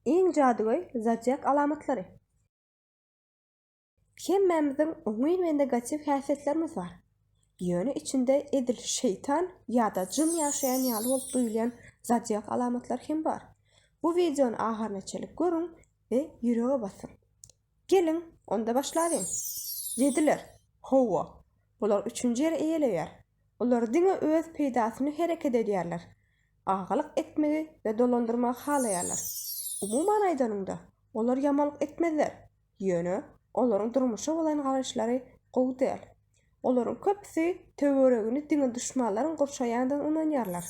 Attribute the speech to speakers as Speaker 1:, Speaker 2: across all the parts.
Speaker 1: Iň jadygöý zodiak alamatlary. Hemmämiziň oňyn we negatiw häsiýetlerimiz bar. Ýöne içinde edil şeýtan ýa-da jyn ýaşaýan ýaly bolup duýulýan zodiak alamatlary hem bar. Bu wideony ahyryna çenli görüň we ýürege basyň. Geliň, onda başlalyň. Ýediler. Hawa, bular üçünji ýeri eýeleýär. Olar diňe öz peýdasyny hereket edýärler. Agalyk etmegi we dolandyrmagy halaýarlar. Umuman aýdanyňda, olar ýamanlyk etmezler. Ýöne, olaryň durmuşa bolan garaýyşlary gowy däl. Olaryň köpüsi töweregini diňe duşmanlaryň gurşaýandygyna ynanýarlar.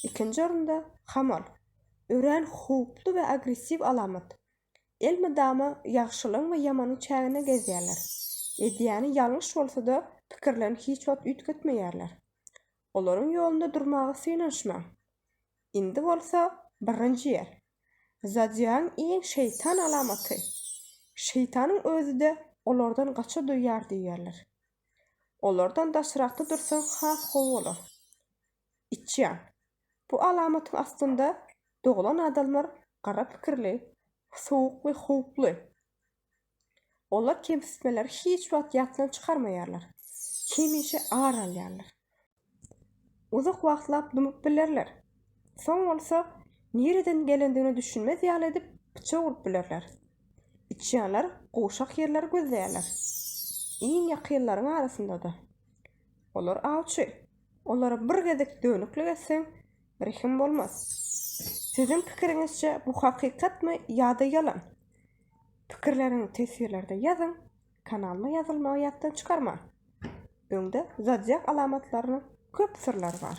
Speaker 1: Ikinji orunda, hamal. Örän howply we agressiw alamat. elmydama ýagşylygyň we ýamanyň çäginde gezýärler. Edýäni ýalňyş bolsa-da, pikirlerini hiç wagt üýtgetmeýärler. Olaryň ýolunda durmaga synanyşmaň. Indi bolsa birinji ýer. Zodiagyň iň şeýtan alamaty. Şeýtanyň özi-de olardan gaça duýýar diýýärler. Olardan daşrakda dursaň has gowy bolar. Içýan, Bu alamatyň astynda doglan adamlar gara pikirli, sowuk we howply. Olar kemsitmeleri hiç wagt ýatdan çykarmaýarlar, hemişe ar alýarlar. Uzak wagtlap dymyp bilerler, soň bolsa nireden gelendigine düşünmez ýaly edip pyçak urup bilerler. Içýanlar gowşak ýerleri gözleýärler, iň ýakynlaryň arasynda-da. Olar awçy. Olara bir gezek dönüklik etseň, rehim bolmaz. Siziň pikiriňizçe bu hakykatmy ýa-da ýalan? Pikirleriňi teswirlerde ýazyň, kanalyma ýazylmagy ýatdan çykarmaň. Öňde zadýak alamatlarynyň köp syrlary bar.